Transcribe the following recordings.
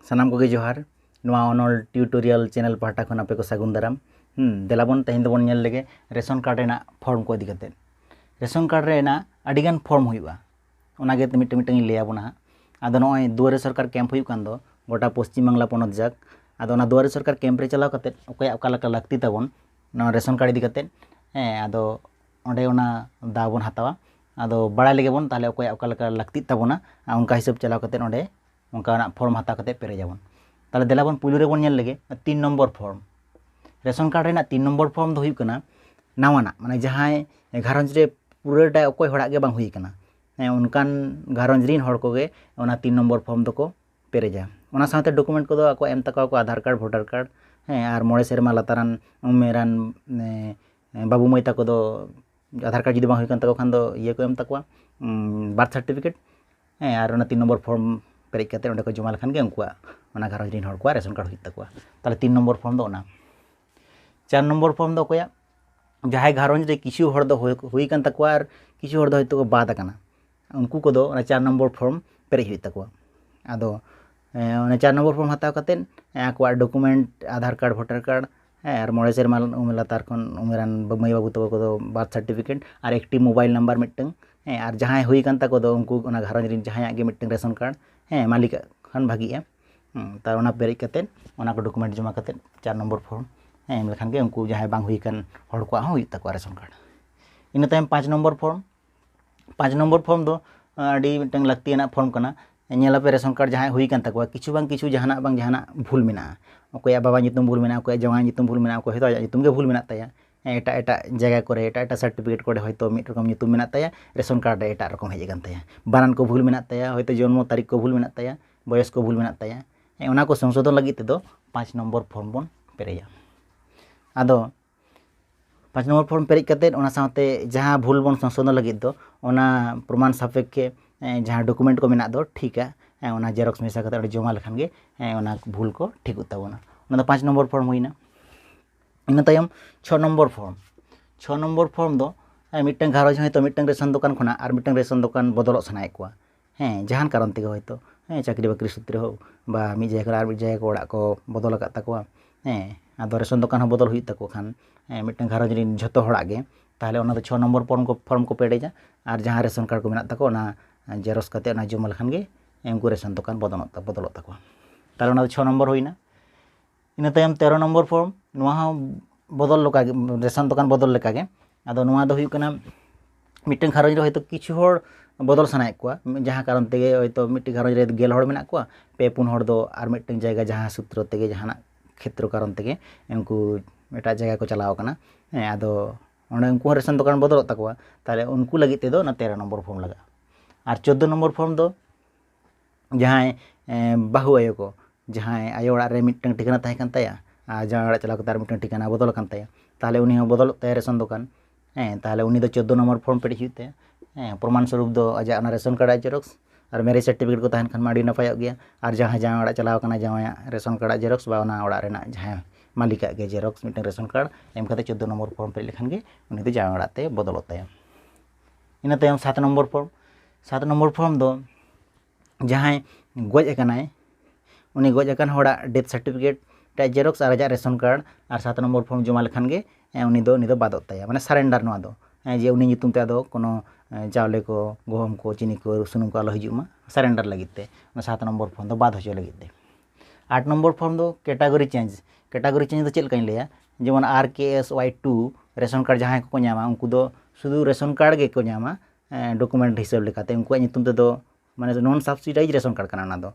ᱥᱟᱱᱟᱢ ᱠᱚᱜᱮ ᱡᱚᱦᱟᱨ ᱱᱚᱣᱟ ᱚᱱᱚᱞ ᱴᱤᱭᱩᱴᱳᱨᱤᱭᱟᱞ ᱪᱮᱱᱮᱞ ᱯᱟᱦᱴᱟ ᱠᱷᱚᱱ ᱟᱯᱮ ᱠᱚ ᱥᱟᱹᱜᱩᱱ ᱫᱟᱨᱟᱢ ᱫᱮᱞᱟ ᱵᱚᱱ ᱛᱮᱦᱮᱧ ᱫᱚᱵᱚᱱ ᱧᱮᱞ ᱞᱮᱜᱮ ᱨᱮᱥᱚᱱ ᱠᱟᱨᱰ ᱨᱮᱱᱟᱜ ᱯᱷᱚᱨᱢ ᱠᱚ ᱤᱫᱤ ᱠᱟᱛᱮᱫ ᱨᱮᱥᱚᱱ ᱠᱟᱨᱰ ᱨᱮᱱᱟᱜ ᱟᱹᱰᱤᱜᱟᱱ ᱯᱷᱚᱨᱢ ᱦᱩᱭᱩᱜᱼᱟ ᱚᱱᱟᱜᱮ ᱢᱤᱫᱴᱟᱝ ᱢᱤᱫᱴᱟᱝ ᱤᱧ ᱞᱟᱹᱭ ᱟᱵᱚᱱᱟ ᱦᱟᱸᱜ ᱟᱫᱚ ᱱᱚᱜᱼᱚᱭ ᱫᱩᱣᱟᱨᱮ ᱥᱚᱨᱠᱟᱨ ᱠᱮᱢᱯ ᱦᱩᱭᱩᱜ ᱠᱟᱱ ᱫᱚ ᱜᱚᱴᱟ ᱯᱚᱥᱪᱤᱢ ᱵᱟᱝᱞᱟ ᱯᱚᱱᱚᱛ ᱡᱟᱠ ᱟᱫᱚ ᱚᱱᱟ ᱫᱩᱣᱟᱨᱮ ᱥᱚᱨᱠᱟᱨ ᱠᱮᱢᱯ ᱨᱮ ᱪᱟᱞᱟᱣ ᱠᱟᱛᱮᱫ ᱚᱠᱚᱭᱟᱜ ᱚᱠᱟ ᱞᱮᱠᱟ ᱞᱟᱹᱠᱛᱤ ᱛᱟᱵᱚᱱ ᱱᱚᱣᱟ ᱨᱮᱥᱚᱱ ᱠᱟᱨᱰ ᱤᱫᱤ ᱠᱟᱛᱮᱫ ᱦᱮᱸ ᱟᱫᱚ ᱚᱸᱰᱮ ᱚᱱᱟ ᱫᱟᱣ ᱵᱚᱱ ᱦᱟᱛᱟᱣᱟ ᱟᱫᱚ ᱵᱟᱲᱟᱭ ᱞᱮᱜᱮ ᱵᱚᱱ ᱛᱟᱦᱚᱞᱮ ᱚᱠᱚᱭᱟᱜ ᱚᱠᱟ ᱞᱮᱠᱟ ᱞᱟᱹᱠᱛᱤᱜ ᱛᱟᱵᱚᱱᱟ ᱟᱨ ᱚᱱᱠᱟ ᱦᱤᱥᱟᱹᱵᱽ ᱪᱟᱞᱟᱣ ᱠᱟᱛᱮᱫ ᱚᱸᱰᱮ ᱚᱱᱠᱟᱱᱟᱜ ᱯᱷᱨᱚᱢ ᱦᱟᱛᱟᱣ ᱠᱟᱛᱮᱫ ᱯᱮᱨᱮᱡᱽ ᱟᱵᱚᱱ ᱛᱟᱦᱚᱞᱮ ᱫᱮᱞᱟ ᱵᱚᱱ ᱯᱩᱭᱞᱩ ᱨᱮᱵᱚᱱ ᱧᱮᱞ ᱞᱮᱜᱮ ᱛᱤᱱ ᱱᱚᱢᱵᱚᱨ ᱯᱷᱨᱚᱢ ᱨᱮᱥᱚᱱ ᱠᱟᱨᱰ ᱨᱮᱱᱟᱜ ᱛᱤᱱ ᱱᱚᱢᱵᱚᱨ ᱯᱷᱨᱚᱢ ᱫᱚ ᱦᱩᱭᱩᱜ ᱠᱟᱱᱟ ᱱᱟᱣᱟᱱᱟᱜ ᱢᱟᱱᱮ ᱡᱟᱦᱟᱸᱭ ᱜᱷᱟᱨᱚᱸᱡᱽ ᱨᱮ ᱯᱩᱨᱟᱹᱴᱟ ᱚᱠᱚᱭ ᱦᱚᱲᱟᱜ ᱜᱮ ᱵᱟᱝ ᱦᱩᱭ ᱠᱟᱱᱟ ᱦᱮᱸ ᱚᱱᱠᱟᱱ ᱜᱷᱟᱨᱚᱸᱡᱽ ᱨᱮᱱ ᱦᱚᱲ ᱠᱚᱜᱮ ᱚᱱᱟ ᱛᱤᱱ ᱱᱚᱢᱵᱚᱨ ᱯᱷᱨᱚᱢ ᱫᱚᱠᱚ ᱯᱮᱨᱮᱡᱟ ᱚᱱᱟ ᱥᱟᱶᱛᱮ ᱰᱚᱠᱩᱢᱮᱱᱴ ᱠᱚᱫᱚ ᱟᱠᱚᱣᱟᱜ ᱮᱢ ᱛᱟᱠᱚᱣᱟ ᱠᱚ ᱟᱫᱷᱟᱨ ᱠᱟᱨᱰ ᱵᱷᱳᱴᱟᱨ ᱠᱟᱨᱰ ᱦᱮᱸ ᱟᱨ ᱢᱚᱬᱮ ᱥᱮᱨᱢᱟ ᱞᱟᱛᱟᱨᱟᱱ ᱩᱢᱮᱨᱟᱱ ᱵᱟᱹᱵᱩ ᱢᱟᱹᱭ ᱛᱟᱠᱚ ᱫᱚ ᱟᱫᱷᱟᱨ ᱠᱟᱨᱰ ᱡᱩᱫᱤ ᱵᱟᱝ ᱦᱩᱭ ᱠᱟᱱ ᱛᱟᱠᱚ ᱠᱷᱟᱱ ᱫᱚ ᱤᱭᱟᱹ ᱠᱚ ᱮᱢ ᱛᱟᱠᱚᱣᱟ ᱵᱟᱨᱛᱷ ᱥᱟᱨᱴᱤᱯᱷᱤᱠᱮᱴ ᱦᱮᱸ ᱟᱨ ᱚᱱᱟ ᱛᱤᱱ ᱱᱚᱢᱵᱚᱨ ᱯᱷᱨᱚᱢ ᱯᱮᱨᱮᱡ ᱠᱟᱛᱮᱫ ᱚᱸᱰᱮ ᱠᱚ ᱡᱚᱢᱟ ᱞᱮᱠᱷᱟᱱ ᱜᱮ ᱩᱱᱠᱩᱣᱟᱜ ᱚᱱᱟ ᱜᱷᱟᱨᱚᱸᱡᱽ ᱨᱮᱱ ᱦᱚᱲ ᱠᱚᱣᱟᱜ ᱨᱮᱥᱚᱱ ᱠᱟᱨᱰ ᱦᱩᱭᱩᱜ ᱛᱟᱠᱚᱣᱟ ᱛᱟᱦᱚᱞᱮ ᱛᱤᱱ ᱱᱚᱢᱵᱚᱨ ᱯᱷᱨᱚᱢ ᱫᱚ ᱚᱱᱟ ᱪᱟᱨ ᱱᱚᱢᱵᱚᱨ ᱯᱷᱨᱚᱢ ᱫᱚ ᱚᱠᱚᱭᱟᱜ ᱡᱟᱦᱟᱸᱭ ᱜᱷᱟᱨᱚᱸᱡᱽ ᱨᱮ ᱠᱤᱪᱷᱩ ᱦᱚᱲ ᱫᱚ ᱦᱩᱭ ᱠᱟᱱ ᱛᱟᱠᱚᱣᱟ ᱟᱨ ᱠᱤᱪᱷᱩ ᱦᱚᱲ ᱫᱚ ᱦᱚᱭᱛᱳ ᱠᱚ ᱵᱟᱫ ᱟᱠᱟᱱᱟ ᱩᱱᱠᱩ ᱠᱚᱫᱚ ᱚᱱᱟ ᱪᱟᱨ ᱱᱚᱢᱵᱚᱨ ᱯᱷᱚᱨᱢ ᱯᱮᱨᱮᱡ ᱦᱩᱭᱩᱜ ᱛᱟᱠᱚᱣᱟ ᱟᱫᱚ ᱚᱱᱟ ᱪᱟᱨ ᱱᱚᱢᱵᱚᱨ ᱯᱷᱚᱨᱢ ᱦᱟᱛᱟᱣ ᱠᱟᱛᱮᱫ ᱟᱠᱚᱣᱟᱜ document Aadhaar card voter card ᱦᱮᱸ ᱟᱨ ᱢᱚᱬᱮ ᱥᱮᱨᱢᱟ ᱩᱢᱮᱨ ᱞᱟᱛᱟᱨ ᱠᱷᱚᱱ ᱩᱢᱮᱨᱟᱱ ᱢᱟᱹᱭ ᱵᱟᱹᱵᱩ ᱛᱟᱠᱚ ᱠᱚᱫᱚ ᱵᱟᱨᱛᱷ ᱥᱟᱨᱴᱤᱯᱷᱤᱠᱮᱴ ᱟᱨ ᱮᱠᱴᱤ ᱢᱳᱵᱟᱭᱤᱞ ᱱᱟᱢᱵᱟᱨ ᱢᱤᱫᱴᱟᱹᱝ ᱦᱮᱸ ᱟᱨ ᱡᱟᱦᱟᱸᱭ ᱦᱩᱭ ᱠᱟᱱ ᱛᱟᱠᱚ ᱫᱚ ᱩᱱᱠᱩ ᱚᱱᱟ ᱜᱷᱟᱨᱚᱸᱡᱽ ᱨᱮᱱ ᱡᱟᱦᱟᱸᱭᱟᱜ ᱜᱮ ᱢᱤᱫᱴᱟᱹᱝ ᱨᱮᱥᱚᱱ ᱠᱟᱨᱰ ᱦᱮᱸ ᱢᱟᱹᱞᱤᱠᱟᱜ ᱠᱷᱟᱱ ᱵᱷᱟᱹᱜᱤᱜᱼᱟ ᱛᱟᱣ ᱚᱱᱟ ᱯᱮᱨᱮᱡ ᱠᱟᱛᱮᱫ ᱚᱱᱟ ᱠᱚ ᱰᱚᱠᱩᱢᱮᱱᱴ ᱡᱚᱢᱟ ᱠᱟᱛᱮᱫ ᱪᱟᱨ ᱱᱚᱢᱵᱚᱨ ᱯᱷᱚᱨᱢ ᱦᱮᱸ ᱮᱢ ᱞᱮᱠᱷᱟᱱ ᱜᱮ ᱩᱱᱠᱩ ᱡᱟᱦᱟᱸᱭ ᱵᱟᱝ ᱦᱩᱭ ᱠᱟᱱ ᱦᱚᱲ ᱠᱚᱣᱟᱜ ᱦᱚᱸ ᱦᱩᱭᱩᱜ ᱛᱟᱠᱚᱣᱟ ᱨᱮᱥᱚᱱ ᱠᱟᱨᱰ ᱤᱱᱟᱹ ᱛᱟᱭᱚᱢ ᱯᱟᱸᱪ ᱱᱚᱢᱵᱚᱨ ᱯᱷᱚᱨᱢ ᱯᱟᱸᱪ ᱱᱚᱢᱵᱚᱨ ᱯᱷᱚᱨᱢ ᱫᱚ ᱟᱹᱰᱤ ᱢᱤᱫᱴᱟᱝ ᱞᱟᱹᱠᱛᱤᱭᱟᱱᱟᱜ ᱯᱷᱚᱨᱢ ᱠᱟᱱᱟ ᱧᱮᱞᱟᱯᱮ ᱨᱮᱥᱚᱱ ᱠᱟᱨᱰ ᱡᱟᱦᱟᱸᱭᱟᱜ ᱦᱩᱭ ᱠᱟᱱ ᱛᱟᱠᱚᱣᱟ ᱠᱤᱪᱷᱩ ᱵᱟᱝ ᱠᱤᱪᱷᱩ ᱡᱟᱦᱟᱱᱟᱜ ᱵᱟᱝ ᱡᱟᱦᱟᱱᱟᱜ ᱵᱷᱩᱞ ᱢᱮᱱᱟᱜᱼᱟ ᱚᱠᱚᱭᱟᱜ ᱵᱟᱵᱟ ᱧᱩᱛᱩᱢ ᱵᱷᱩᱞ ᱢᱮᱱᱟᱜᱼᱟ ᱚᱠᱚᱭᱟᱜ ᱡᱟᱶᱟᱭ ᱧᱩᱛᱩᱢ ᱵᱷᱩᱞ ᱢᱮᱱᱟᱜᱼᱟ ᱚᱠᱚᱭ ᱦᱳᱭᱛᱳ ᱟᱭᱟᱜ ᱧᱩᱛᱩᱢ ᱜᱮ ᱵᱷᱩᱞ ᱢᱮᱱᱟᱜ ᱛᱟᱭᱟ ᱮᱴᱟᱜ ᱮᱴᱟᱜ ᱡᱟᱭᱜᱟ ᱠᱚᱨᱮ ᱮᱴᱟᱜ ᱮᱴᱟᱜ ᱥᱟᱨᱴᱤᱯᱷᱤᱠᱮᱴ ᱠᱚᱨᱮ ᱦᱳᱭᱛᱳ ᱢᱤᱫ ᱨᱚᱠᱚᱢ ᱧᱩᱛᱩᱢ ᱢᱮᱱᱟᱜ ᱛᱟᱭᱟ ᱨᱮᱥᱚᱱ ᱠᱟᱨᱰ ᱨᱮ ᱮᱴᱟᱜ ᱨᱚᱠᱚᱢ ᱦᱮᱡ ᱟᱠᱟᱱ ᱛᱟᱭᱟ ᱵᱟᱱᱟᱱ ᱠᱚ ᱵᱷᱩᱞ ᱢᱮᱱᱟᱜ ᱛᱟᱭᱟ ᱦᱳᱭᱛᱳ ᱡᱚᱱᱢᱚ ᱛᱟᱹᱨᱤᱠᱷ ᱠᱚ ᱵᱷᱩᱞ ᱢᱮᱱᱟᱜ ᱛᱟᱭᱟ ᱵᱚᱭᱚᱥ ᱠᱚ ᱵᱷᱩᱞ ᱢᱮᱱᱟᱜ ᱛᱟᱭᱟ ᱚᱱᱟ ᱠᱚ ᱥᱚᱝᱥᱳᱫᱷᱚᱱ ᱞᱟᱹᱜᱤᱫ ᱛᱮᱫᱚ ᱯᱟᱸᱪ ᱱᱚᱢᱵᱚᱨ ᱯᱷᱚᱨᱢ ᱵᱚᱱ ᱯᱮᱨᱮᱡᱟ ᱟᱫᱚ ᱯᱟᱸᱪ ᱱᱚᱢᱵᱚᱨ ᱯᱷᱚᱨᱢ ᱯᱮᱨᱮᱡ ᱠᱟᱛᱮᱫ ᱚᱱᱟ ᱥᱟᱶᱛᱮ ᱡᱟᱦᱟᱸ ᱵᱷᱩᱞ ᱵᱚᱱ ᱥᱚᱝᱥᱳᱫᱷᱚᱱ ᱞᱟᱹᱜᱤᱫ ᱫᱚ ᱚᱱᱟ ᱯᱨᱚᱢᱟᱱ ᱥᱟᱯᱮᱠᱠᱷᱮ ᱡᱟᱦᱟᱸ ᱰᱚᱠᱩᱢᱮᱱᱴ ᱠᱚ ᱢᱮᱱᱟᱜ ᱫᱚ ᱴᱷᱤᱠᱟ ᱚᱱᱟ ᱡᱮᱨᱚᱠᱥ ᱢᱮᱥᱟ ᱠᱟᱛᱮᱫ ᱚᱸᱰᱮ ᱡᱚᱢᱟ ᱞᱮᱠᱷᱟᱱ ᱜᱮ ᱚᱱᱟ ᱵᱷᱩᱞ ᱠᱚ ᱴᱷᱤᱠᱚᱜ ᱛᱟᱵᱚᱱᱟ ᱚᱱᱟ ᱫᱚ ᱯᱟᱸᱪ ᱱᱚᱢᱵᱚᱨ ᱯᱷᱚᱨᱢ ᱦᱩᱭᱱᱟ ᱤᱱᱟᱹ ᱛᱟᱭᱚᱢ ᱪᱷᱚ ᱱᱚᱢᱵᱚᱨ ᱯᱷᱚᱨᱢ ᱪᱷᱚ ᱱᱚᱢᱵᱚᱨ ᱯᱷᱚᱨᱢ ᱫᱚ ᱢᱤᱫᱴᱟᱱ ᱜᱷᱟᱨᱚᱸᱡᱽ ᱦᱚᱭᱛᱳ ᱢᱤᱫᱴᱟᱱ ᱨᱮᱥᱚᱱ ᱫᱚᱠᱟᱱ ᱠᱷᱚᱱᱟᱜ ᱟᱨ ᱢᱤᱫᱴᱟᱱ ᱨᱮᱥᱚᱱ ᱫᱚᱠᱟᱱ ᱵᱚᱫᱚᱞᱚᱜ ᱥᱟᱱᱟᱭᱮᱫ ᱠᱚᱣᱟ ᱦᱮᱸ ᱡᱟᱦᱟᱱ ᱠᱟᱨᱚᱱ ᱛᱮᱜᱮ ᱦᱚᱭᱛᱚ ᱦᱮᱸ ᱪᱟᱹᱠᱨᱤ ᱵᱟᱹᱠᱨᱤ ᱥᱩᱛᱨᱮ ᱦᱳᱠ ᱵᱟ ᱢᱤᱫ ᱡᱟᱭᱜᱟ ᱠᱷᱚᱱᱟᱜ ᱟᱨ ᱢᱤᱫ ᱡᱟᱭᱜᱟ ᱚᱲᱟᱜ ᱠᱚ ᱵᱚᱫᱚᱞ ᱟᱠᱟᱫ ᱛᱟᱠᱚᱣᱟ ᱦᱮᱸ ᱟᱫᱚ ᱨᱮᱥᱚᱱ ᱫᱚᱠᱟᱱ ᱦᱚᱸ ᱵᱚᱫᱚᱞ ᱦᱩᱭᱩᱜ ᱛᱟᱠᱚ ᱠᱷᱟᱱ ᱦᱮᱸ ᱢᱤᱫᱴᱟᱱ ᱜᱷᱟᱨᱚᱸᱡᱽ ᱨᱮᱱ ᱡᱷᱚᱛᱚ ᱦᱚᱲᱟᱜ ᱜᱮ ᱛᱟᱦᱚᱞᱮ ᱚᱱᱟ ᱫᱚ ᱪᱷᱚ ᱱᱚᱢᱵᱚᱨ ᱯᱷᱚᱨᱢ ᱠᱚ ᱯᱷᱚᱨᱢ ᱠᱚ ᱯᱮᱨᱮᱡᱟ ᱟᱨ ᱡᱟᱦᱟᱸ ᱨᱮᱥᱚᱱ ᱠᱟᱨᱰ ᱠᱚ ᱢᱮᱱᱟᱜ ᱛᱟᱠᱚᱣᱟ ᱚᱱᱟ ᱡᱮᱨᱚᱠᱥ ᱠᱟᱛᱮᱫ ᱚᱱᱟ ᱡᱚᱢᱟ ᱞᱮᱠᱷᱟᱱ ᱜᱮ ᱩᱱᱠᱩ ᱨᱮᱥᱚᱱ ᱫᱚᱠᱟᱱ ᱵᱚᱫᱚᱞᱚᱜ ᱛᱟᱠᱚᱣᱟ ᱛᱟᱦᱚᱞᱮ ᱚᱱᱟ ᱫᱚ ᱪᱷᱚ ᱱᱚᱢᱵᱚᱨ ᱦᱩᱭᱱᱟ ᱤᱱᱟᱹ ᱛᱟᱭᱚᱢ ᱛᱮᱨᱚ ᱱᱚᱢᱵᱚᱨ ᱯᱷᱚᱨᱢ ᱱᱚᱣᱟ ᱦᱚᱸ ᱵᱚᱫᱚᱞ ᱞᱮᱠᱟ ᱜᱮ ᱨᱮᱥᱚᱱ ᱫᱚᱠᱟᱱ ᱵᱚᱫᱚᱞ ᱞᱮᱠᱟ ᱜᱮ ᱟᱫᱚ ᱱᱚᱣᱟ ᱫᱚ ᱦᱩᱭᱩᱜ ᱠᱟᱱᱟ ᱢᱤᱫᱴᱟᱹᱝ ᱜᱷᱟᱨᱚᱸᱡᱽ ᱨᱮ ᱦᱳᱭᱛᱳ ᱠᱤᱪᱷᱩ ᱦᱚᱲ ᱵᱚᱫᱚᱞ ᱥᱟᱱᱟᱭᱮᱫ ᱠᱚᱣᱟ ᱡᱟᱦᱟᱸ ᱠᱟᱨᱚᱱ ᱛᱮᱜᱮ ᱦᱳᱭᱛᱳ ᱢᱤᱫᱴᱟᱹᱝ ᱜᱷᱟᱨᱚᱸᱡᱽ ᱨᱮ ᱜᱮᱞ ᱦᱚᱲ ᱢᱮᱱᱟᱜ ᱠᱚᱣᱟ ᱯᱮ ᱯᱩᱱ ᱦᱚᱲ ᱫᱚ ᱟᱨ ᱢᱤᱫᱴᱟᱹᱝ ᱡᱟᱭᱜᱟ ᱡᱟᱦᱟᱸ ᱥᱩᱛᱨᱚ ᱛᱮᱜᱮ ᱡᱟᱦᱟᱱᱟᱜ ᱠᱷᱮᱛᱨᱚ ᱠᱟᱨᱚᱱ ᱛᱮᱜᱮ ᱩᱱᱠᱩ ᱮᱴᱟᱜ ᱡᱟᱭᱜᱟ ᱠᱚ ᱪᱟᱞᱟᱣ ᱟᱠᱟᱱᱟ ᱦᱮᱸ ᱟᱫᱚ ᱚᱸᱰᱮ ᱩᱱᱠᱩ ᱦᱚᱸ ᱨᱮᱥᱚᱱ ᱫᱚᱠᱟᱱ ᱵᱚᱫᱚᱞᱚᱜ ᱛᱟᱠᱚᱣᱟ ᱛᱟᱦᱚᱞᱮ ᱩᱱᱠᱩ ᱞᱟᱹᱜᱤᱫ ᱛᱮᱫᱚ ᱚᱱᱟ ᱛᱮᱨᱚ ᱱᱚᱢᱵᱚᱨ ᱯᱷᱚᱨᱢ ᱞᱟᱜᱟᱜᱼᱟ ᱟᱨ ᱪᱳᱫᱽᱫᱳ ᱱᱚᱢᱵᱚᱨ ᱯᱷᱚᱨᱢ ᱫᱚ ᱡᱟᱦᱟᱸᱭ ᱵᱟᱹᱦᱩ ᱟᱭᱳ ᱠᱚ ᱡᱟᱦᱟᱸᱭ ᱟᱭᱳ ᱚᱲᱟᱜ ᱨᱮ ᱢᱤᱫᱴᱟᱝ ᱴᱷᱤᱠᱟᱹᱱᱟ ᱛᱟᱦᱮᱸ ᱠᱟᱱ ᱛᱟᱭᱟ ᱟᱨ ᱡᱟᱶᱟᱭ ᱚᱲᱟᱜ ᱪᱟᱞᱟᱣ ᱠᱟᱛᱮ ᱟᱨ ᱢᱤᱫᱴᱟᱝ ᱴᱷᱤᱠᱟᱹᱱᱟ ᱵᱚᱫᱚᱞ ᱟᱠᱟᱱ ᱛᱟᱭᱟ ᱛᱟᱦᱚᱞᱮ ᱩᱱᱤ ᱦᱚᱸ ᱵᱚᱫᱚᱞᱚᱜ ᱛᱟᱭᱟ ᱨᱮᱥᱚᱱ ᱫᱚᱠᱟᱱ ᱦᱮᱸ ᱛᱟᱦᱚᱞᱮ ᱩᱱᱤ ᱫᱚ ᱪᱳᱫᱽᱫᱳ ᱱᱚᱢᱵᱚᱨ ᱯᱷᱨᱚᱢ ᱯᱮᱨᱮᱡ ᱦᱩᱭᱩᱜ ᱛᱟᱭᱟ ᱦᱮᱸ ᱯᱨᱚᱢᱟᱱ ᱥᱚᱨᱩᱯ ᱫᱚ ᱟᱡᱟᱜ ᱚᱱᱟ ᱨᱮᱥᱚᱱ ᱠᱟᱨᱰ ᱟᱜ ᱡᱮᱨᱚᱠᱥ ᱟᱨ ᱢᱮᱨᱮᱡᱽ ᱥᱟᱨᱴᱤᱯᱷᱤᱠᱮᱴ ᱠᱚ ᱛᱟᱦᱮᱱ ᱠᱷᱟᱱ ᱢᱟ ᱟᱹᱰᱤ ᱱᱟᱯᱟᱭᱚᱜ ᱜᱮᱭᱟ ᱟᱨ ᱡᱟᱦᱟᱸᱭ ᱡᱟᱶᱟᱭ ᱚᱲᱟᱜ ᱪᱟᱞᱟᱣ ᱠᱟᱱᱟᱭ ᱡᱟᱶᱟᱭᱟᱜ ᱨᱮᱥᱚᱱ ᱠᱟᱨᱰ ᱟᱜ ᱡᱮᱨᱚᱠᱥ ᱵᱟ ᱚᱱᱟ ᱚᱲᱟᱜ ᱨᱮᱱᱟᱜ ᱡᱟᱦᱟᱸ ᱢᱟᱹᱞᱤᱠ ᱟᱜ ᱜᱮ ᱡᱮᱨᱚᱠᱥ ᱢᱤᱫᱴᱟᱝ ᱨᱮᱥᱚᱱ ᱠᱟᱨᱰ ᱮᱢ ᱠᱟᱛᱮ ᱪᱳᱫᱽᱫᱳ ᱱᱚᱢᱵᱚᱨ ᱯᱷᱨᱚᱢ ᱯᱮᱨᱮᱡ ᱞᱮᱠᱷᱟᱱ ᱜᱮ ᱩᱱᱤ ᱫᱚ ᱡᱟᱶᱟᱭ ᱚᱲᱟᱜ ᱛᱮ ᱵᱚᱫᱚᱞᱚᱜ ᱛᱟᱭᱟ ᱤᱱᱟᱹ ᱛᱟᱭᱚᱢ ᱥᱟᱛ ᱱᱚᱢᱵᱚᱨ ᱯᱷᱚᱨᱢ ᱥᱟᱛ ᱱᱚᱢᱵᱚᱨ ᱯᱷᱚᱨᱢ ᱫᱚ ᱡᱟᱦᱟᱸᱭ ᱜᱚᱡ ᱟᱠᱟᱱᱟᱭ ᱩᱱᱤ ᱜᱚᱡ ᱟᱠᱟᱱ ᱦᱚᱲᱟᱜ ᱰᱮᱛᱷ ᱥᱟᱨᱴᱤᱯᱷᱤᱠᱮᱴ ᱨᱮᱭᱟᱜ ᱡᱮᱨᱚᱠᱥ ᱟᱨ ᱟᱡᱟᱜ ᱨᱮᱥᱚᱱ ᱠᱟᱨᱰ ᱟᱨ ᱥᱟᱛ ᱱᱚᱢᱵᱚᱨ ᱯᱷᱚᱨᱢ ᱡᱚᱢᱟ ᱞᱮᱠᱷᱟᱱ ᱜᱮ ᱩᱱᱤ ᱫᱚ ᱩᱱᱤ ᱫᱚ ᱵᱟᱫᱚᱜ ᱛᱟᱭᱟ ᱢᱟᱱᱮ ᱥᱟᱨᱮᱱᱰᱟᱨ ᱱᱚᱣᱟ ᱫᱚ ᱡᱮ ᱩᱱᱤ ᱧᱩᱛᱩᱢ ᱛᱮ ᱟᱫᱚ ᱠᱳᱱᱳ ᱪᱟᱣᱞᱮ ᱠᱚ ᱜᱩᱦᱩᱢ ᱠᱚ ᱪᱤᱱᱤ ᱠᱚ ᱥᱩᱱᱩᱢ ᱠᱚ ᱟᱞᱚ ᱦᱤᱡᱩᱜ ᱢᱟ ᱥᱟᱨᱮᱱᱰᱟᱨ ᱞᱟᱹᱜᱤᱫ ᱛᱮ ᱚᱱᱟ ᱥᱟᱛ ᱱᱚᱢᱵᱚᱨ ᱯᱷᱚᱨᱢ ᱫᱚ ᱵᱟᱫ ᱦᱚᱪᱚ ᱞᱟᱹᱜᱤᱫ ᱛᱮ ᱟᱴ ᱱᱚᱢᱵᱚᱨ ᱯᱷᱚᱨᱢ ᱫᱚ ᱠᱮᱴᱟᱜᱚᱨᱤ ᱪᱮᱧᱡᱽ ᱠᱮᱴᱟᱜᱚᱨᱤ ᱪᱮᱧᱡᱽ ᱫᱚ ᱪᱮᱫ ᱞᱮᱠᱟᱧ ᱞᱟᱹᱭᱟ ᱡᱮᱢᱚᱱ R K S Y two ration card ᱡᱟᱦᱟᱸᱭ ᱠᱚᱠᱚ ᱧᱟᱢᱟ ᱩᱱᱠᱩ ᱫᱚ ᱥᱩᱫᱷᱩ ᱨᱮᱥᱚᱱ ᱠᱟᱨᱰ ᱜᱮᱠᱚ ᱧᱟᱢᱟ ᱰᱚᱠᱩᱢᱮᱱᱴ ᱦᱤᱥᱟᱹᱵᱽ ᱞᱮᱠᱟᱛᱮ ᱩᱱᱠᱩᱣᱟᱜ ᱧᱩᱛᱩᱢ ᱛᱮᱫᱚ ᱢᱟᱱᱮ ᱱᱚᱱ ᱥᱟᱵᱥᱤᱰᱟᱭᱤᱡᱽ ᱨᱮᱥᱚᱱ ᱠᱟᱨᱰ ᱠᱟᱱᱟ ᱚᱱᱟ ᱫᱚ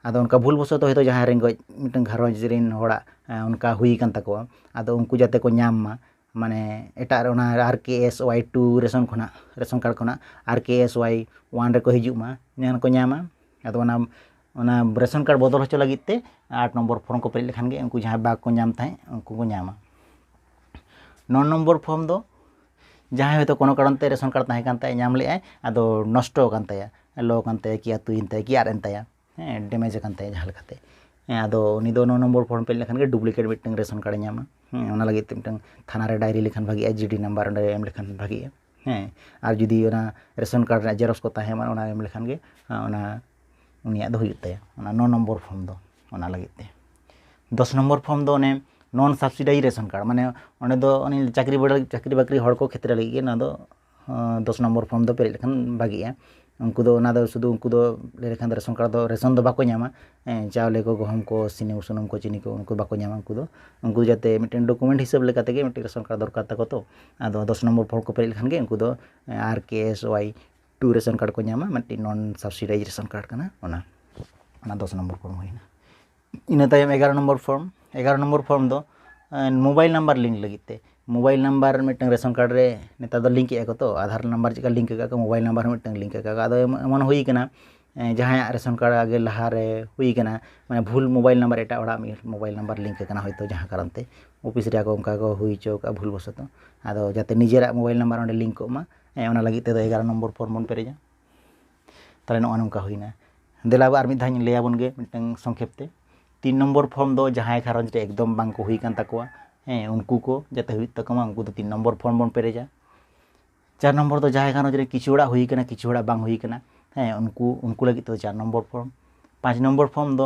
ᱟᱫᱚ ᱚᱱᱠᱟ ᱵᱷᱩᱞ ᱵᱚᱥᱚᱛᱚ ᱦᱚᱭᱛᱳ ᱡᱟᱦᱟᱸᱭ ᱨᱮᱸᱜᱮᱡ ᱢᱤᱫᱴᱟᱝ ᱜᱷᱟᱨᱚᱸᱡᱽ ᱨᱮᱱ ᱦᱚᱲᱟᱜ ᱚᱱᱠᱟ ᱦᱩᱭ ᱟᱠᱟᱱ ᱛᱟᱠᱚᱣᱟ ᱟᱫᱚ ᱩᱱᱠᱩ ᱡᱟᱛᱮ ᱠᱚ ᱧᱟᱢ ᱢᱟ ᱢᱟᱱᱮ ᱮᱴᱟᱜ ᱨᱮ ᱚᱱᱟ R K S Y two ration ᱠᱷᱚᱱᱟᱜ ᱨᱮᱥᱚᱱ ᱠᱟᱨᱰ ᱠᱷᱚᱱᱟᱜ R K S Y one ᱨᱮᱠᱚ ᱦᱤᱡᱩᱜ ᱢᱟ ᱡᱟᱦᱟᱱᱟᱜ ᱠᱚ ᱧᱟᱢᱟ ᱟᱫᱚ ᱚᱱᱟ ᱚᱱᱟ ᱨᱮᱥᱚᱱ ᱠᱟᱨᱰ ᱵᱚᱫᱚᱞ ᱦᱚᱪᱚ ᱞᱟᱹᱜᱤᱫ ᱛᱮ ᱟᱴ ᱱᱚᱢᱵᱚᱨ ᱯᱷᱨᱚᱢ ᱠᱚ ᱯᱮᱨᱮᱡ ᱞᱮᱠᱷᱟᱱ ᱜᱮ ᱩᱱᱠᱩ ᱡᱟᱦᱟᱸᱭ ᱵᱟᱠᱚ ᱧᱟᱢ ᱛᱟᱦᱮᱸᱫ ᱩᱱᱠᱩ ᱠᱚ ᱧᱟᱢᱟ ᱱᱚ ᱱᱚᱢᱵᱚᱨ ᱯᱷᱨᱚᱢ ᱫᱚ ᱡᱟᱦᱟᱸᱭ ᱦᱚᱭᱛᱳ ᱠᱳᱱᱳ ᱠᱟᱨᱚᱱ ᱛᱮ ᱨᱮᱥᱚᱱ ᱠᱟᱨᱰ ᱛᱟᱦᱮᱸ ᱠᱟᱱ ᱛᱟᱭᱟ ᱧᱟᱢ ᱞᱮᱫᱟᱭ ᱟᱫᱚ ᱱᱚᱥᱴᱚ ᱟᱠᱟᱱ ᱛᱟᱭᱟ ᱞᱚ ᱟᱠᱟᱱ ᱛᱟᱭᱟ ᱠᱤ ᱟᱹᱛᱩᱭᱮᱱ ᱛᱟᱭᱟ ᱠᱤ ᱟᱫ ᱮᱱ ᱛᱟᱭᱟ ᱦᱮᱸ ᱰᱮᱢᱮᱡᱽ ᱟᱠᱟᱱ ᱛᱟᱭᱟ ᱡᱟᱦᱟᱸ ᱞᱮᱠᱟᱛᱮ ᱦᱮᱸ ᱟᱫᱚ ᱩᱱᱤ ᱫᱚ ᱱᱚ ᱱᱚᱢᱵᱚᱨ ᱯᱷᱚᱨᱢ ᱯᱮᱨᱮᱡ ᱞᱮᱠᱷᱟᱱ ᱜᱮ ᱰᱩᱵᱽᱞᱤᱠᱮᱴ ᱢᱤᱫᱴᱟᱹᱝ ᱨᱮᱥᱚᱱ ᱠᱟᱨᱰᱮ ᱧᱟᱢᱟ ᱦᱮᱸ ᱚᱱᱟ ᱞᱟᱹᱜᱤᱫ ᱛᱮ ᱢᱤᱫᱴᱟᱹᱝ ᱛᱷᱟᱱᱟ ᱨᱮ ᱰᱟᱭᱨᱤ ᱞᱮᱠᱷᱟᱱ ᱵᱷᱟᱹᱜᱤᱜᱼᱟ ᱡᱤᱰᱤ ᱱᱟᱢᱵᱟᱨ ᱚᱸᱰᱮ ᱮᱢ ᱞᱮᱠᱷᱟᱱ ᱵᱷᱟᱹᱜᱤᱜᱼᱟ ᱦᱮᱸ ᱟᱨ ᱡᱩᱫᱤ ᱚᱱᱟ ᱨᱮᱥᱚᱱ ᱠᱟᱨᱰ ᱨᱮᱭᱟᱜ ᱡᱮᱨᱚᱠᱥ ᱠᱚ ᱛᱟᱦᱮᱱ ᱢᱟ ᱚᱱᱟ ᱮᱢ ᱞᱮᱠᱷᱟᱱ ᱜᱮ ᱚᱱᱟ ᱩᱱᱤᱭᱟᱜ ᱫᱚ ᱦᱩᱭᱩᱜ ᱛᱟᱭᱟ ᱚᱱᱟ ᱱᱚ ᱱᱚᱢᱵᱚᱨ ᱯᱷᱚᱨᱢ ᱫᱚ ᱚᱱᱟ ᱞᱟᱹᱜᱤᱫ ᱛᱮ ᱫᱚᱥ ᱱᱚᱢᱵᱚᱨ ᱯᱷᱚᱨᱢ ᱫᱚ ᱚᱱᱮ ᱱᱚᱱ ᱥᱟᱵᱽᱥᱤᱰᱟᱭᱤᱡᱽ ᱨᱮᱥᱚᱱ ᱠᱟᱨᱰ ᱢᱟᱱᱮ ᱚᱸᱰᱮ ᱫᱚ ᱩᱱᱤ ᱪᱟᱹᱠᱨᱤ ᱵᱟᱹᱠᱨᱤ ᱦᱚᱲ ᱠᱚ ᱠᱷᱮᱛᱨᱮ ᱞᱟᱹᱜᱤᱫ ᱜᱮ ᱱᱚᱣᱟ ᱫᱚ ᱫᱚᱥ ᱱᱚᱢᱵᱚᱨ ᱯᱷᱚᱨᱢ ᱫᱚ ᱯᱮᱨᱮᱡ ᱞᱮᱠᱷᱟᱱ ᱵᱷᱟᱹᱜᱤᱜᱼᱟ ᱩᱱᱠᱩ ᱫᱚ ᱚᱱᱟ ᱫᱚ ᱥᱩᱫᱩ ᱩᱱᱠᱩ ᱫᱚ ᱞᱟᱹᱭ ᱞᱮᱠᱷᱟᱱ ᱫᱚ ᱨᱮᱥᱚᱱ ᱠᱟᱨᱰ ᱫᱚ ᱨᱮᱥᱚᱱ ᱫᱚ ᱵᱟᱠᱚ ᱧᱟᱢᱟ ᱪᱟᱣᱞᱮ ᱠᱚ ᱜᱩᱦᱩᱢ ᱠᱚ ᱥᱤᱢ ᱥᱩᱱᱩᱢ ᱠᱚ ᱪᱤᱱᱤ ᱠᱚ ᱩᱱᱠᱩ ᱵᱟᱠᱚ ᱧᱟᱢᱟ ᱩᱱᱠᱩ ᱫᱚ ᱩᱱᱠᱩ ᱡᱟᱛᱮ ᱢᱤᱫᱴᱮᱱ ᱰᱚᱠᱳᱢᱮᱱᱴ ᱦᱤᱥᱟᱹᱵ ᱞᱮᱠᱟ ᱛᱮᱜᱮ ᱢᱤᱫᱴᱮᱱ ᱨᱮᱥᱚᱱ ᱠᱟᱨᱰ ᱫᱚᱨᱠᱟᱨ ᱛᱟᱠᱚ ᱛᱚ ᱟᱫᱚ ᱫᱚᱥ ᱱᱚᱢᱵᱚᱨ ᱯᱷᱚᱨᱢ ᱠᱚ ᱯᱮᱨᱮᱡ ᱞᱮᱠᱷᱟᱱ ᱜᱮ ᱩᱱᱠᱩ ᱫᱚ R K S Y two ration card ᱠᱚ ᱧᱟᱢᱟ ᱢᱤᱫᱴᱮᱱ ᱱᱚᱱ ᱥᱟᱵᱥᱤᱰᱟᱭᱤᱡᱽᱰ ᱨᱮᱥᱚᱱ ᱠᱟᱨᱰ ᱠᱟᱱᱟ ᱚᱱᱟ ᱚᱱᱟ ᱫᱚᱥ ᱱᱚᱢᱵᱚᱨ ᱯᱷᱚᱨᱢ ᱦᱩᱭᱱᱟ ᱤᱱᱟᱹ ᱛᱟᱭᱚᱢ ᱮᱜᱟᱨᱚ ᱱᱚᱢᱵᱚᱨ ᱯᱷᱚᱨᱢ ᱮᱜᱟᱨᱚ ᱱᱚᱢᱵᱚᱨ ᱯᱷᱚᱨᱢ ᱫᱚ ᱢᱳᱵᱟᱭᱤᱞ ᱱᱟᱢᱵᱟᱨ ᱞᱤᱝᱠ ᱞᱟᱹᱜᱤᱫ ᱛᱮ ᱢᱳᱵᱟᱭᱤᱞ ᱱᱟᱢᱵᱟᱨ ᱢᱤᱫᱴᱟᱝ ᱨᱮᱥᱚᱱ ᱠᱟᱨᱰ ᱨᱮ ᱱᱮᱛᱟᱨ ᱫᱚ ᱞᱤᱝᱠ ᱮᱫᱟ ᱠᱚ ᱛᱚ ᱟᱫᱷᱟᱨ ᱱᱟᱢᱵᱟᱨ ᱪᱮᱫ ᱞᱮᱠᱟ ᱞᱤᱝᱠ ᱟᱠᱟᱫ ᱠᱚ ᱢᱳᱵᱟᱭᱤᱞ ᱱᱟᱢᱵᱟᱨ ᱦᱚᱸ ᱢᱤᱫᱴᱟᱝ ᱞᱤᱝᱠ ᱟᱠᱟᱫ ᱠᱚ ᱟᱫᱚ ᱮᱢᱚᱱ ᱦᱩᱭ ᱠᱟᱱᱟ ᱡᱟᱦᱟᱸᱭᱟᱜ ᱨᱮᱥᱚᱱ ᱠᱟᱨᱰ ᱟᱜᱮ ᱞᱟᱦᱟ ᱨᱮ ᱦᱩᱭ ᱠᱟᱱᱟ ᱢᱟᱱᱮ ᱵᱷᱩᱞ ᱢᱳᱵᱟᱭᱤᱞ ᱱᱟᱢᱵᱟᱨ ᱮᱴᱟᱜ ᱦᱚᱲᱟᱜ ᱢᱳᱵᱟᱭᱤᱞ ᱱᱟᱢᱵᱟᱨ ᱞᱤᱝᱠ ᱟᱠᱟᱱᱟ ᱦᱚᱭᱛᱳ ᱡᱟᱦᱟᱸ ᱠᱟᱨᱚᱱ ᱛᱮ ᱚᱯᱷᱤᱥ ᱨᱮ ᱟᱠᱚ ᱚᱱᱠᱟ ᱠᱚ ᱦᱩᱭ ᱦᱚᱪᱚ ᱠᱟᱜᱼᱟ ᱵᱷᱩᱞ ᱵᱚᱥᱚᱛᱚ ᱟᱫᱚ ᱡᱟᱛᱮ ᱱᱤᱡᱮᱨᱟᱜ ᱢᱳᱵᱟᱭᱤᱞ ᱱᱟᱢᱵᱟᱨ ᱚᱸᱰᱮ ᱞᱤᱝᱠ ᱠᱚᱜ ᱢᱟ ᱚᱱᱟ ᱞᱟᱹᱜᱤᱫ ᱛᱮᱫᱚ ᱮᱜᱟᱨᱚ ᱱᱚᱢᱵᱚᱨ ᱯᱷᱚᱨᱢ ᱵᱚᱱ ᱯᱮᱨᱮᱡᱟ ᱛᱟᱦᱚᱞᱮ ᱱᱚᱜᱼᱚ ᱱᱚᱝᱠᱟ ᱦᱩᱭᱱᱟ ᱫᱮᱞᱟ ᱟᱨ ᱢᱤᱫ ᱫᱷᱟᱣ ᱤᱧ ᱞᱟᱹᱭ ᱟᱵᱚᱱ ᱜᱮ ᱢᱤᱫᱴᱟᱝ ᱥᱚᱝᱠᱷᱮᱯ ᱛᱮ ᱛᱤᱱ ᱱᱚᱢᱵᱚᱨ ᱯᱷᱚᱨᱢ ᱫᱚ ᱡᱟᱦᱟᱸᱭ ᱜᱷᱟᱨᱚᱸᱡᱽ ᱨᱮ ᱮᱠᱫᱚᱢ ᱵᱟᱝ ᱠᱚ ᱦᱩᱭ ᱠᱟᱱ ᱛᱟᱠᱚᱣᱟ ᱦᱮᱸ ᱩᱱᱠᱩ ᱠᱚ ᱡᱟᱛᱮ ᱦᱩᱭᱩᱜ ᱛᱟᱠᱚ ᱢᱟ ᱩᱱᱠᱩ ᱫᱚ ᱛᱤᱱ ᱱᱚᱢᱵᱚᱨ ᱯᱷᱚᱨᱢ ᱵᱚᱱ ᱯᱮᱨᱮᱡᱟ ᱪᱟᱨ ᱱᱚᱢᱵᱚᱨ ᱫᱚ ᱡᱟᱦᱟᱸᱭ ᱜᱷᱟᱨᱚᱸᱡᱽ ᱨᱮ ᱠᱤᱪᱷᱩ ᱦᱚᱲᱟᱜ ᱦᱩᱭ ᱠᱟᱱᱟ ᱠᱤᱪᱷᱩ ᱦᱚᱲᱟᱜ ᱵᱟᱝ ᱦᱩᱭ ᱠᱟᱱᱟ ᱦᱮᱸ ᱩᱱᱠᱩ ᱩᱱᱠᱩ ᱞᱟᱹᱜᱤᱫ ᱛᱮᱫᱚ ᱪᱟᱨ ᱱᱚᱢᱵᱚᱨ ᱯᱷᱚᱨᱢ ᱯᱟᱸᱪ ᱱᱚᱢᱵᱚᱨ ᱯᱷᱚᱨᱢ ᱫᱚ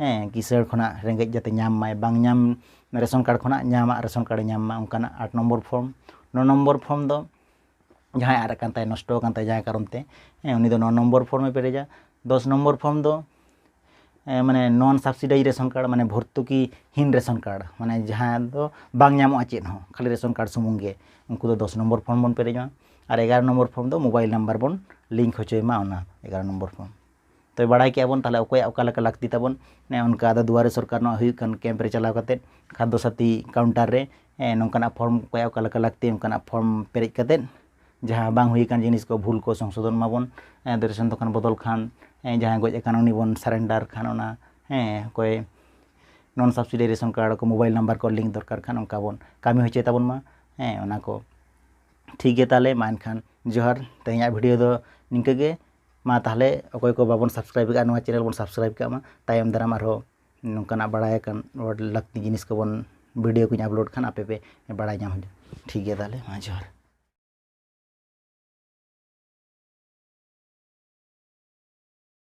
ᱦᱮᱸ ᱠᱤᱥᱟᱹᱬ ᱠᱷᱚᱱᱟᱜ ᱨᱮᱸᱜᱮᱡ ᱡᱟᱛᱮ ᱧᱟᱢ ᱢᱟᱭ ᱵᱟᱝ ᱧᱟᱢ ᱨᱮᱥᱚᱱ ᱠᱟᱨᱰ ᱠᱷᱚᱱᱟᱜ ᱧᱟᱢᱟᱜ ᱨᱮᱥᱚᱱ ᱠᱟᱨᱰᱮ ᱧᱟᱢ ᱢᱟ ᱚᱱᱠᱟᱱᱟᱜ ᱟᱴ ᱱᱚᱢᱵᱚᱨ ᱯᱷᱨᱚᱢ ᱱᱚ ᱱᱚᱢᱵᱚᱨ ᱯᱷᱨᱚᱢ ᱫᱚ ᱡᱟᱦᱟᱸᱭᱟᱜ ᱟᱫ ᱟᱠᱟᱱ ᱛᱟᱭᱟ ᱱᱚᱥᱴᱚ ᱟᱠᱟᱱ ᱛᱟᱭᱟ ᱡᱟᱦᱟᱸ ᱠᱟᱨᱚᱱ ᱛᱮ ᱦᱮᱸ ᱩᱱᱤ ᱫᱚ ᱱᱚ ᱱᱚᱢᱵᱚᱨ ᱯᱷᱨᱚᱢᱮ ᱯᱮᱨᱮᱡᱟ ᱫᱚᱥ ᱱᱚᱢᱵᱚᱨ ᱯᱷᱨᱚᱢ ᱫᱚ ᱢᱟᱱᱮ ᱱᱚᱱ ᱥᱟᱵᱥᱤᱰᱟᱭᱤᱡᱽ ᱨᱮᱥᱚᱱ ᱠᱟᱨᱰ ᱢᱟᱱᱮ ᱵᱷᱚᱨᱛᱩᱠᱤᱦᱤᱱ ᱨᱮᱥᱚᱱ ᱠᱟᱨᱰ ᱢᱟᱱᱮ ᱡᱟᱦᱟᱸ ᱫᱚ ᱵᱟᱝ ᱧᱟᱢᱚᱜᱼᱟ ᱪᱮᱫ ᱦᱚᱸ ᱠᱷᱟᱹᱞᱤ ᱨᱮᱥᱚᱱ ᱠᱟᱨᱰ ᱥᱩᱢᱩᱝ ᱜᱮ ᱩᱱᱠᱩ ᱫᱚ ᱫᱚᱥ ᱱᱚᱢᱵᱚᱨ ᱯᱷᱨᱚᱢ ᱵᱚᱱ ᱯᱮᱨᱮᱡᱟ ᱟᱨ ᱮᱜᱟᱨᱚ ᱱᱚᱢᱵᱚᱨ ᱯᱷᱨᱚᱢ ᱫᱚ ᱢᱳᱵᱟᱭᱤᱞ ᱱᱟᱢᱵᱟᱨ ᱵᱚᱱ ᱞᱤᱝᱠ ᱦᱚᱪᱚᱭ ᱢᱟ ᱚᱱᱟ ᱮᱜᱟᱨᱚ ᱱᱚᱢᱵᱚᱨ ᱯᱷᱨᱚᱢ ᱛᱚ ᱵᱟᱲᱟᱭ ᱠᱮᱫᱼᱟ ᱵᱚᱱ ᱛᱟᱦᱚᱞᱮ ᱚᱠᱚᱭᱟᱜ ᱚᱠᱟ ᱞᱮᱠᱟ ᱞᱟᱹᱠᱛᱤ ᱛᱟᱵᱚᱱ ᱚᱱᱮ ᱚᱱᱠᱟ ᱟᱫᱚ ᱫᱩᱣᱟᱨᱮ ᱥᱚᱨᱠᱟᱨ ᱱᱚᱣᱟ ᱦᱩᱭᱩᱜ ᱠᱟᱱ ᱠᱮᱢᱯ ᱨᱮ ᱪᱟᱞᱟᱣ ᱠᱟᱛᱮᱫ ᱠᱷᱟᱫᱽᱫᱚ ᱥᱟᱹᱛᱷᱤ ᱠᱟᱣᱩᱱᱴᱟᱨ ᱨᱮ ᱱᱚᱝᱠᱟᱱᱟᱜ ᱯᱷᱨᱚᱢ ᱚᱠᱚᱭᱟᱜ ᱚᱠᱟ ᱞᱮᱠᱟ ᱞᱟᱹᱠᱛᱤ ᱚᱱᱠᱟᱱᱟᱜ ᱯᱷᱨᱚᱢ ᱯᱮᱨᱮᱡ ᱠᱟᱛᱮᱫ ᱡᱟᱦᱟᱸ ᱵᱟᱝ ᱦᱩᱭ ᱟᱠᱟᱱ ᱡᱤᱱᱤᱥ ᱠᱚ ᱵᱷᱩᱞ ᱠᱚ ᱥᱚᱝᱥᱳᱫᱷᱚᱱ ᱢᱟᱵᱚᱱ ᱟᱫᱚ ᱨᱮᱥᱚᱱ ᱫᱚᱠᱟᱱ ᱵᱚᱫᱚᱞ ᱠᱷᱟᱱ ᱡᱟᱦᱟᱸᱭ ᱜᱚᱡ ᱟᱠᱟᱱ ᱩᱱᱤ ᱵᱚᱱ ᱥᱟᱨᱮᱱᱰᱟᱨ ᱠᱷᱟᱱ ᱚᱱᱟ ᱦᱮᱸ ᱚᱠᱚᱭ ᱱᱚᱱ ᱥᱟᱵᱥᱤᱰᱤ ᱨᱮᱥᱚᱱ ᱠᱟᱨᱰ ᱠᱚ ᱢᱳᱵᱟᱭᱤᱞ ᱱᱟᱢᱵᱟᱨ ᱠᱚ ᱞᱤᱝᱠ ᱫᱚᱨᱠᱟᱨ ᱠᱷᱟᱱ ᱚᱱᱠᱟ ᱵᱚᱱ ᱠᱟᱹᱢᱤ ᱦᱚᱪᱚᱭ ᱛᱟᱵᱚᱱ ᱢᱟ ᱦᱮᱸ ᱚᱱᱟ ᱠᱚ ᱴᱷᱤᱠ ᱜᱮᱭᱟ ᱛᱟᱦᱚᱞᱮ ᱢᱟ ᱮᱱᱠᱷᱟᱱ ᱡᱚᱦᱟᱨ ᱛᱮᱦᱮᱧᱟᱜ ᱵᱷᱤᱰᱭᱳ ᱫᱚ ᱱᱤᱝᱠᱟᱹ ᱜᱮ ᱢᱟ ᱛᱟᱦᱚᱞᱮ ᱚᱠᱚᱭ ᱠᱚ ᱵᱟᱵᱚᱱ ᱥᱟᱵᱥᱠᱨᱟᱭᱤᱵᱽ ᱠᱟᱜᱼᱟ ᱱᱚᱣᱟ ᱪᱮᱱᱮᱞ ᱵᱚᱱ ᱥᱟᱵᱥᱠᱨᱟᱭᱤᱵᱽ ᱠᱟᱜ ᱢᱟ ᱛᱟᱭᱚᱢ ᱫᱟᱨᱟᱢ ᱟᱨᱦᱚᱸ ᱱᱚᱝᱠᱟᱱᱟᱜ ᱵᱟᱲᱟᱭ ᱟᱠᱟᱱ ᱞᱟᱹᱠᱛᱤ ᱡᱤᱱᱤᱥ ᱠᱚᱵᱚᱱ ᱵᱷᱤᱰᱤᱭᱳ ᱠᱚᱧ ᱟᱯᱞᱳᱰ ᱠᱷᱟᱱ ᱟᱯᱮ ᱯᱮ ᱵᱟᱲᱟᱭ ᱧᱟᱢᱟ ᱴᱷᱤᱠ ᱜᱮᱭᱟ ᱛᱟᱦᱚᱞᱮ ᱢᱟ ᱡᱚᱦᱟᱨ